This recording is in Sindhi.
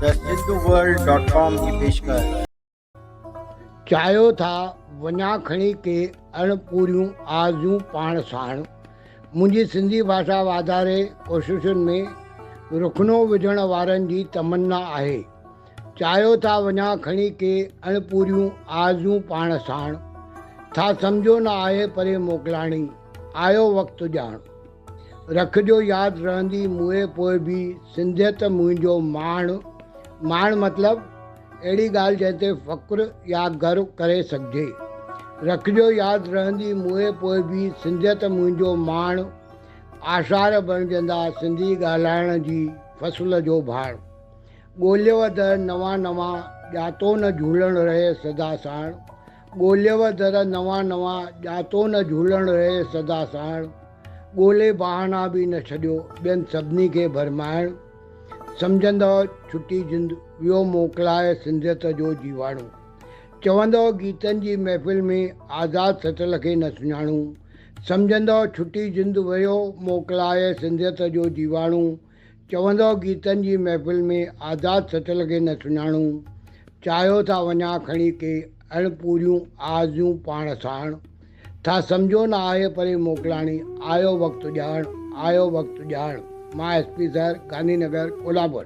The Hinduworld ڊاٽ ڪام جي پيشڪش. چاهيو ٿا وڃا کڻي ڪي اڻ پوريون آرزون پاڻ ساڻ. منهنجي سنڌي ڀاشا واڌاري ڪوششن ۾ رخنو وجهڻ وارن جي تمنا آهي. چاهيو ٿا وڃا کڻي ڪي اڻ پوريون آرزون پاڻ ساڻ. ٿا سمجهو نه آهي پري موڪلاڻي، آيو وقت ڄاڻ. رکجو ياد رهندي مئي پوء به سنڌيت منهنجو ماڻ ماڻ مطلب اهڙي ڳالهه جنهن تي فخر يا گرو ڪري سگهجي رکجو ياد رهندي مئي پوء به سنڌيت منهنجو ماڻ آثار بڻجندا سنڌي ڳالهائڻ جي فصل جو ڀاڻ ڳوليو اڌ نوان نوان ڄاتو نه جهولڻ رهي سدا ساڻ ڳوليو در نوان نوان، ڄاتو نه جهولڻ رهي سدا ساڻ، ڳولي بهانا به نه ڇڏيو، ٻين سڀني کي ڀرمائڻ، سمجهندؤ ڇٽي جند، ويو موڪلائي سنڌيت جو جيواڻو، چوندؤ گيتن جي محفل ۾ آزاد سٽل کي نه سڃاڻون، سمجهندؤ ڇٽي جند، ويو موڪلائي سنڌيت جو جيواڻو، چوندؤ گيتن جي محفل ۾ آزاد سٽل کي نه سڃاڻون، چاهيو ٿا وڃان کڻي ڪي اڻ پوريون آرزيون پاڻ ساڻ، ٿا سمجهو نه آهي پري موڪلاڻي، آيو وقت اڄاڻ، آيو وقت اڄاڻ، مان S P sir, Gandhinagar, Kolhapur.